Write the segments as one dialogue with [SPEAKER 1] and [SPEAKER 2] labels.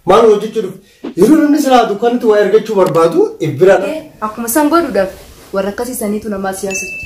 [SPEAKER 1] Maal hojjechuu dhufe? Yeroo namni silaa dukkanatti waa ergachuu barbaadu ibbiradha. Akkuma san godhuudhaaf
[SPEAKER 2] warra akkasii saniitu namaa siyaasatti.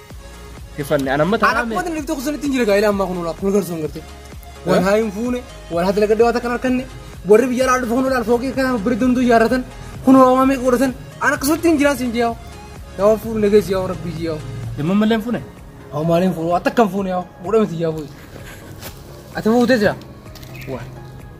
[SPEAKER 3] Hifanne an amma Ana taa'aa akkuma mee. lifte kusan ittiin jira
[SPEAKER 4] gaa'ila ammaa kun olaaf kun garsuun gartee. Wal Eh? haa hin fuune, wal haa dalagadde waan takkan harkanne, warri biyya alaa dhufa kun olaal fookii kana bira danduu ijaarratan, kun hoomaa meeqa godhatan, ana akkasumatti hin jiraan siin jiyaa'u. Yaa waan fuudhu nageessi yaa waan rabbii jiyaa'u. Dhimma malee hin fuune.
[SPEAKER 3] Haa maaliin fuudhu,
[SPEAKER 4] ati akkam fuune yaa godhamiti yaa fuudhu. Ati fuutee jira. Waa.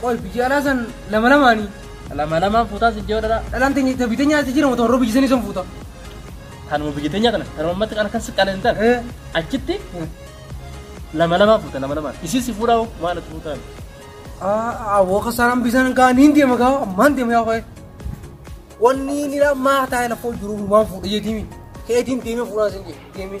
[SPEAKER 4] Qoy biyya alaa san lama lamaani. Lama lamaan fuutaa
[SPEAKER 3] sin jee dhala. Dhalaan teenya ta biyya teenyaa
[SPEAKER 4] jijjiirama ta warra biyya sanii san fuuta. Tanuma
[SPEAKER 3] biyya teenyaa kana tanuma ammatti kana kan si qaleen tan. Eh. Achitti lama lamaan fuuta lama lamaan. Isin si fuudhaa hoo maal itti fuutaan? Ah,
[SPEAKER 4] awwa kasaraan bisaan gaa niin deema gaa ammaan deema yaa qoy. Wanni nira maa taa'e lafa jiru maan fuudha jeetiimi. Keetiin deemee fuudhaa sin jee deemee.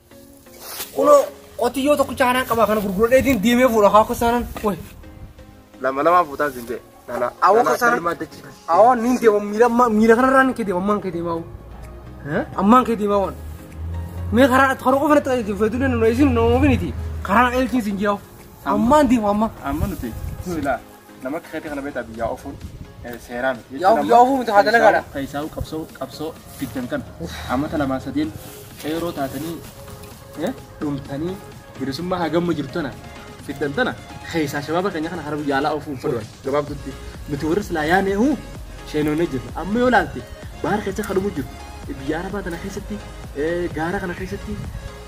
[SPEAKER 4] Kuno qotiyyoo tokkicha kanaan qabaa kana gurguradheetiin deemee fuudha haa kosaanan. Wai. Lama
[SPEAKER 3] lama fuutaa siin jee. Lala. Awoo kosaanan.
[SPEAKER 4] Awoo niin deema miila miila kanarraa niin kee deema ammaan kee deemaa. Ammaan kee deemaa waan. Mee karaa karaa qofa natti qajeelchi feetu danda'u isin nama ofiniti. Karaa na qajeelchiin siin jee. Ammaan deema ammaa. Amma nuti
[SPEAKER 3] silaa. Nama akka keetii kana beektaa biyyaa ofuun seeraa miti. Yaa of- yaa ofuu miti,
[SPEAKER 4] haa dalagaadha. Keessaawu qabsoo
[SPEAKER 3] qabsoo fiddan kana ammata lamaa sadeen qeeroo taatanii eh, dhumtanii bilisummaa hagamma jirtu tana fiddan tana keessaa shabaaba keenya kana hara biyya alaa ofuun fudhan gabaabdutti nuti warri silaa yaanee huu sheenoonee jirra amma yoo laalte baara keessa kan dhumu jiru biyya arabaa tana keessatti eh, gaara kana keessatti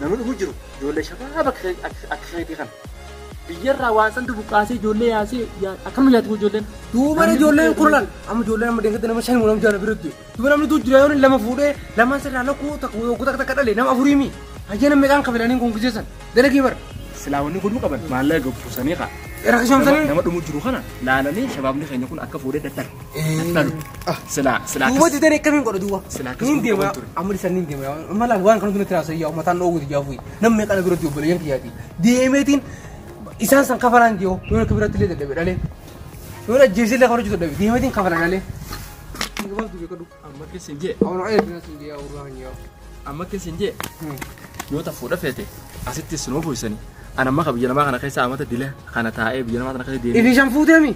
[SPEAKER 3] namni dhumu jiru ijoollee shabaaba akka akka keetii kana Biyyarraa waan santu buqqaasee ijoollee yaasee yaa- akkam nyaatu kun ijoolleen. Duuba ijoolleen
[SPEAKER 4] kurnan amma ijoolleen amma deessatti nama shan nama jaala biratti duuba namni tuu jira yoon lama fuudhee lamaan sirraa lakkuu takka yookuu takka takka dhale nama afurii mi hayyana meeqaan kabilaniin kun giseessan dalagii bara Silaa wanni godhuu qaban
[SPEAKER 3] maallaqa gabbuusanii kaa. Nama rakkishamsanii nama
[SPEAKER 4] dhumuu jiru kana
[SPEAKER 3] laalanii shabaabni keenya kun akka fuudhee dadhalu. Dadhalu. Silaa silaa duuba akkas- dideen
[SPEAKER 4] akkamiin godha duuba Silaa akkas niin godhu deema qaban ture.
[SPEAKER 3] amma
[SPEAKER 4] dhisan niin deema amma laal waan kanatu natti raasa yaa uummataan dhoowwuti jaafuu Nam meeqa na biratti obboleeyyan kiyyaati. Deemeetiin isaan san kafalaan jiru yoo akka biratti illee dadhabe dhalee. Yoo ajjeesee illee kafarachuu dadhabe deemeetiin kafala dhalee. Gabaabdu beekadhu amma keessa hin jee Awwan
[SPEAKER 3] ayyaa biraa sun jee
[SPEAKER 4] awwan hin jee. amma keessa hin
[SPEAKER 3] jee yoo ta fuudha feete asitti sinoo fuusanii. Ana amma ka biyya namaa kana keessa amata dila kana taa'ee biyya namaa kana keessa deemee. Ifi shan fuuteemi.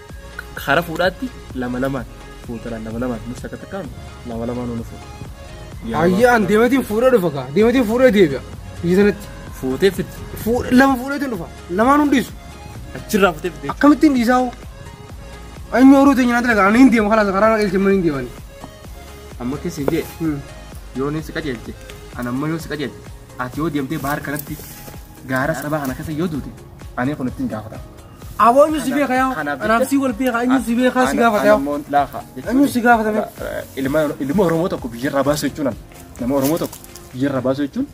[SPEAKER 3] Hara fuudhaatti lama lamaan fuuta laal lama lamaan nus takka takkaan lama lamaan nu fuuta. Yaa Ayyee
[SPEAKER 4] an deematiin fuudhee dhufa kaa. Deematiin fuudhee deebi'a. Biyya sanatti. Fuutee fitti.
[SPEAKER 3] Fuudh- Lama fuudheetiin
[SPEAKER 4] dhufa. Lamaan hundiisu. Achirraa fuutee
[SPEAKER 3] fitti. Akkamittiin dhiisaa hoo?
[SPEAKER 4] Anyi horuu teenya natti laga. Ani hin deema kalaas karaa naqilcha mana hin deemani. Amma
[SPEAKER 3] keessi jee Hmm. yoo ni si qajeelche an amma yoo si qajeelche ati yoo deemtee bahar kanatti gaara sabaa kana keessa yoo duute ani kun ittiin gaafata. Aboo eenyu si
[SPEAKER 4] beeka yaa? Anaaf si wal beeka eenyu si beeka si gaafata yaa? Anamoon laafa. Eenyu si
[SPEAKER 3] gaafata mee?
[SPEAKER 4] Ilma ilma
[SPEAKER 3] Oromoo tokko biyyarraa baasuu jechuun ana. Nama Oromoo tokko biyyarraa baasuu jechuun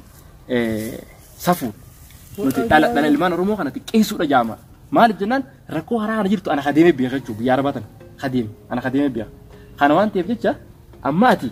[SPEAKER 3] eh, safuu. Nuti dhala dhala ilmaan Oromoo kana xiqqeessuudha jaama. Maaliif jennaan rakkoo haraa kana jirtu ana kadeemee beeka jechuudha biyya arabaa tana. Kadeeme ana kadeemee beeka. Kana waan ta'eef jecha amma ati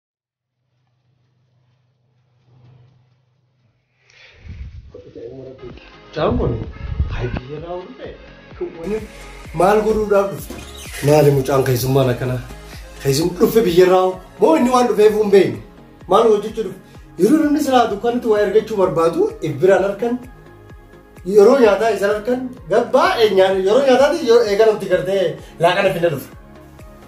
[SPEAKER 1] Jaamon, hayyee raawwatu ta'e. Waliin maal godhuudhaaf dhufte? Maali mucaan keessummaan akkanaa? Keessummaa dhufe biyya irraa hoo? moo inni waan dhufeef hin beekne? Maal hojjechuu dhufe? Yeroo namni silaa dukkanatti waa ergachuu barbaadu ibbiraan harkan yeroo nyaataa isa harkan gabbaa yeroo nyaataatti yoo eegalamti gartee laaqana finna dhufe.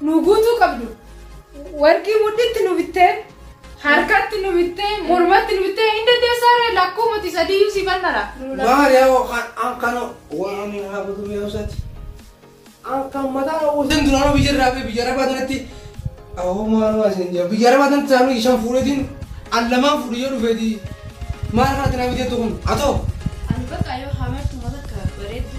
[SPEAKER 2] nu guutuu qabdu warqii mudhitti nu bittee harkatti nu bittee mormatti nu bittee hin dandeessaa ree lakkuu mati sadiyyuu si bannara Maariyamoo
[SPEAKER 4] kan an kan waan haa godhu mi'a isaati. An kan mataa dha'uu isin duraanuu biyya irraa fi biyya arabaa tanatti awoo maaluma isin jira biyya arabaa tanatti saanuu ishan fuudhetiin an lamaan fuudhe yoo dhufeeti maal kanatti naa biteettu kun atoo Ani bakka
[SPEAKER 5] yoo hamartu mata akka bareeddu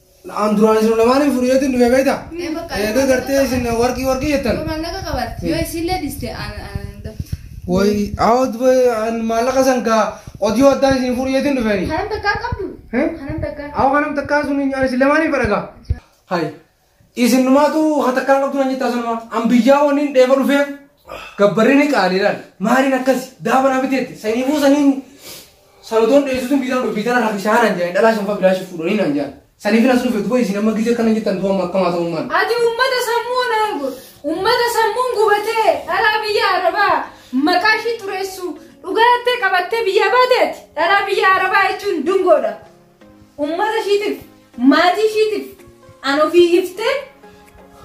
[SPEAKER 4] Na'am duraan isin lamaanii fuudhee ittiin dhufe beekta. Ee bakka. Eega gartee isin warqii warqii jettan. Maallaqa qabarte. Yoo
[SPEAKER 5] isillee dhiste
[SPEAKER 4] aan aan daftu. Way awut maallaqa san ka odiyoo addaan isin fuudhee ittiin dhufeeni. Haram takkaa qabdu.
[SPEAKER 5] Hee? Haram takkaa. Awa kanam takkaa sun
[SPEAKER 4] ani isin lamaanii fadhaga. Hay isin numaatu ha takkaa qabdu nan jettaa sanuma an biyyaa waniin dheeba dhufee gabbarrini qaaliidhaan maaliin akkasi daaba naa biteetti saniifuu saniin Salutoon dhiyeessituun viizaan kun viizaan hafi shaanan jedhan dhalaa shanfa bilaashif fuudhanii naan jedhan. Saniif nas dhufe duba isin amma gizee kana jettan tuwamma akkamaa ta'uu maal. Ati ummata sammuun
[SPEAKER 2] argu ummata sammuun gubatee dhalaa biyya arabaa maqaa ishii xureessu dhugaa jettee qabattee biyya baateeti dhalaa biyya arabaa jechuun dungoodha. Ummata ishiitiif, maatii ishiitiif an ofii hiftee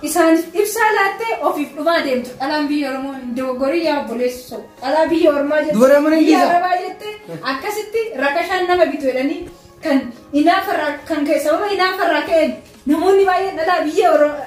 [SPEAKER 2] isaaniif ibsaa laattee ofiif dhumaa deemtu. Dhalaan biyya Oromoo hin dogoggorii yaa obboleessoo. Dhalaa biyya Ormaa jettee Dubara mana biyya dhiisaa. Arabaa jettee akkasitti rakashaan nama bitu jedhanii kan inaafarraa kan ka'e sababa inaafarraa ka'een namoonni baay'een dhalaa biyya Oromoo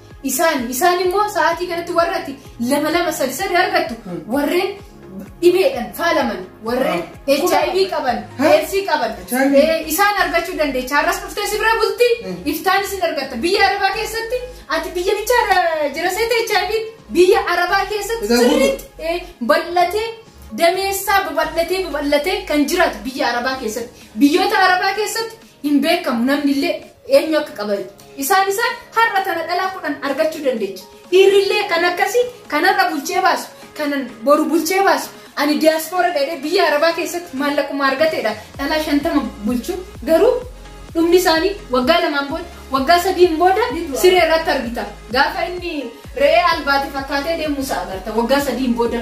[SPEAKER 2] Isaan isaan immoo sa'aatii kanatti warra ati lama lama sadi sadi argattu warreen dhibeedhaan faalaman warreen HIV qaban Ha? AIDS qaban HIV. ee, isaan argachuu dandeecha har'as dhuftee si bira bulti Hmm. iftaan isin argatta biyya arabaa keessatti ati biyya bicha jiraseeta HIV biyya arabaa keessatti Isa guutuu. sirriitti ee, bal'atee dameessaa babal'atee babal'atee kan jiraatu biyya arabaa keessatti biyyoota arabaa keessatti hin beekamu namnillee eenyu akka qaban isaan isaan har'a tana dhalaa kudhan argachuu dandeecha dhiirrillee kan akkasii kan har'a bulchee baasu kanan boru bulchee baasu ani diyaaspoora dheedhee biyya arabaa keessatti maallaquma argateedha dhalaa shantama bulchu garuu dhumni isaanii waggaa lamaan booda waggaa sadiin booda siree irratti argita gaafa inni re'ee albaate fakkaatee deemuusa agarta waggaa sadiin booda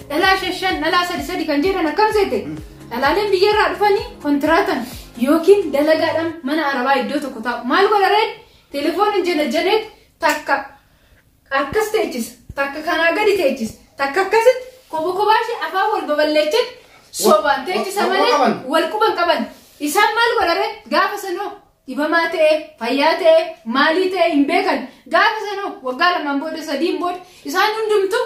[SPEAKER 2] Dhalaa shan shan dhalaa sadi sadi kan jedhan akkam seete dhalaaleen biyyarraa dhufanii kontiraatan yookiin dalagaadhaan mana arabaa iddoo tokko taa'u maal godha reen telefooniin janajjaneet takka akkas teechisa takka kanaa gadi teechisa takka akkasitti kobo kobaa ishee afaan wal babal'eechan sobaan teechisa wal- wal malee qaban. wal quban qaban isaan maal godha reen gaafa sanoo dhibamaa ta'e fayyaa ta'e maalii ta'e hin beekan gaafa sanoo waggaa lamaan booda sadiin booda isaan hundumtuu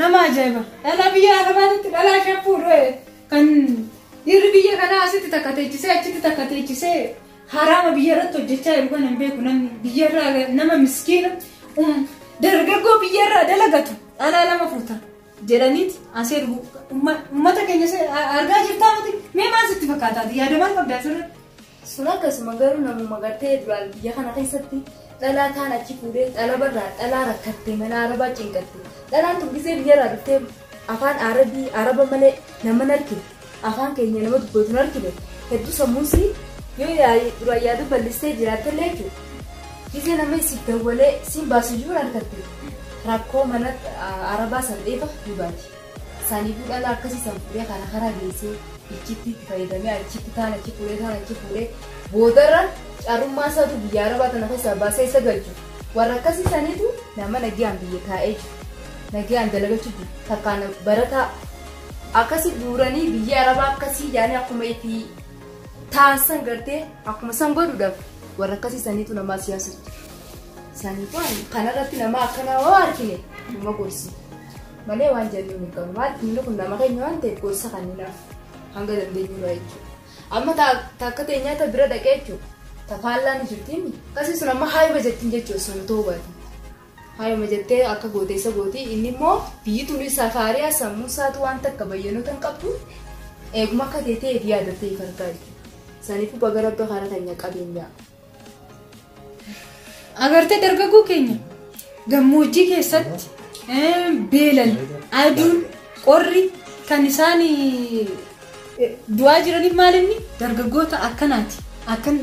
[SPEAKER 2] Nama ajaa'iba! Dhalaa biyya Arabaatitti dhalaa ishee fuudhee kan dhiirri biyya kanaa asitti takka teechisee achitti takka teechisee haraama biyya irratti hojjechaa jiru kana hin beeku namni biyya irraa nama miskiina um, dargaggoo biyya irraa dalagatu dhalaa lama fuuta jedhaniiti asee dhugu ummata keenya se- a- argaa jirtaa miti mee maal sitti fakkaataati yaada maal qabdaa sirriitti Sun akkasuma
[SPEAKER 5] garuu namuma gartee duraan biyya kana keessatti dhalaa taan achi fuudhee xalabarraa dhalaa rakkatte mana arabaa cinqatte dhalaan tun gisee biyyarraa dhuftee afaan arabii araba malee nama narkine afaan keenya nama dubbatu narkine hedduu sammuusii yoo yaa- duraan yaaduu bal'istee jiraattellee jechuudha gisee nama si dawwalee siin baasu jiru argatte rakkoo mana ah, arabaa san dheefa ni baati. Saniifuu dhalaa akkasii san fuudhee kana kana geessee ichitti itti fayyadamee achitti taan achi fuudhee taan achi fuudhee boodarra carrummaa isaatu biyya arabaa tana keessaa baasee isa galchu warra akkasii saniitu nama nagayaan biyya taa'ee jiru nagayaan dalagachuu jiru takkaan barataa akkasi guuranii biyya arabaa akkasii yaanii akkuma itti taan san gartee akkuma san godhuudhaaf warra akkasii saniitu namaa siyaasatti saniifuu kanarratti nama akkanaa hoo argine nama gorsi. malee waan jennu hin qabnu maaliif inni kun nama keenya waan ta'eef gorsa kenninaaf hanga dandeenyu irraa jechuudha. Amma takka ta'e nyaata bira dhaqee jechuudha. Tafaallaa ni jirtiin akkasii sun amma haayuma jettiin jechuudha sun otoo hubaati. Haayuma jettee akka gooteessa gooti inni immoo biyyi tuni safaariyaa sammuu isaatu waan takka bayyanoota hin qabdu eeguma akka ta'e ta'eef yaada ta'eef argaa jechuudha. Saniifuu baga rabbi karaa keenya qabeenyaa.
[SPEAKER 2] Agartee dargaggoo keenya gammoojjii keessatti eh, beelan aduun qorri kan isaan eh, du'aa jiraniif maal inni dargaggoota akkanaati akkan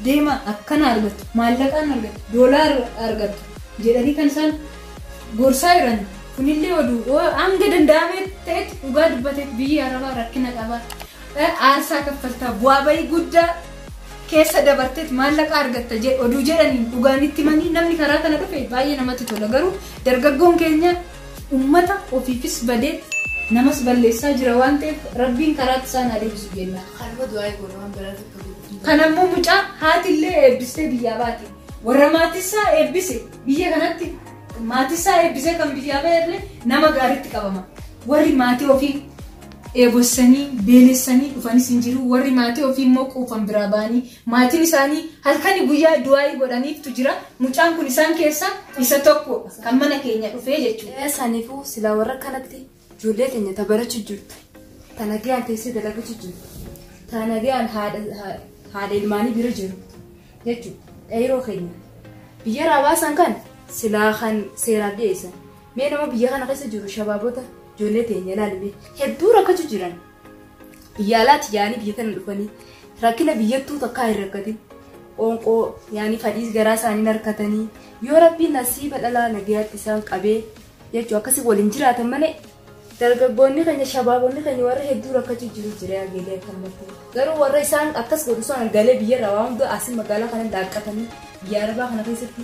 [SPEAKER 2] deema akkana argatu maallaqaan argatu doolaar argatu jedhanii kan isaan gorsaa jiran kunillee oduu hanga danda'amee ta'etti dhugaa dubbateef biyyi arabaa rakkina qabaa Aarsaa kaffaltaa bu'aa ba'ii guddaa keessa dabarteet maallaqa argatta jedh- oduu jedhaniin dhugaan itti himanii namni karaa kana dhufe baay'ee namatti tola garuu dargaggoon keenya ummata ofiifis badee namas balleessaa jira waan ta'eef rabbiin karaatti isaan haa deebisu jenna. Kanuma du'aa'ee goona waan
[SPEAKER 5] biraa tokko godhu. Kan ammoo mucaa
[SPEAKER 2] haatillee eebbistee biyyaa baate warra maatisaa eebbise biyya kanatti maatisaa eebbisee kan biyyaa ba'e illee nama gaariitti qabama warri maatii ofii dheebossanii, beelessanii dhufanis hin jiru, warri maatii ofii immoo quufan biraa ba'anii maatiin isaanii halkani guyyaa du'aa'ii godhaniiftu jira, mucaan kun isaan keessaa isa tokko dha, kan mana keenya dhufee jechuu dha. Ee saniifuu silaa warra
[SPEAKER 5] akkanatti ijoollee teenya ta barachu jirtu, ta nagayaan teessee dalaguchu jirtu, ta nagayaan haadha ha- haadha ilmaanii bira jiru jechuu dha. Qeeyroo keenya biyya irraa baasan kan silaa kan seeraaf dhiyeessan Mee nama biyya kana keessa jiru shabaabota ijoollee teenya ilaali mee hedduu rakkachu jiran biyya alaatti yaa'anii biyya tana dhufanii rakkina biyyattuu takkaa hin rakkatin qoonqoo yaanii fadhiis garaa isaanii narkatanii yoo rabbiin nasiiba dhalaa nagayaatti isaan qabee jechuu akkasii waliin jiraatan malee dargaggoonni keenya shabaabonni keenya warra hedduu rakkachu jiru jira galee akkanumatti garuu warra isaan akkas godhu sana galee biyyarraa waan hunda asii magaalaa kana laaqqatanii biyya arabaa kana keessatti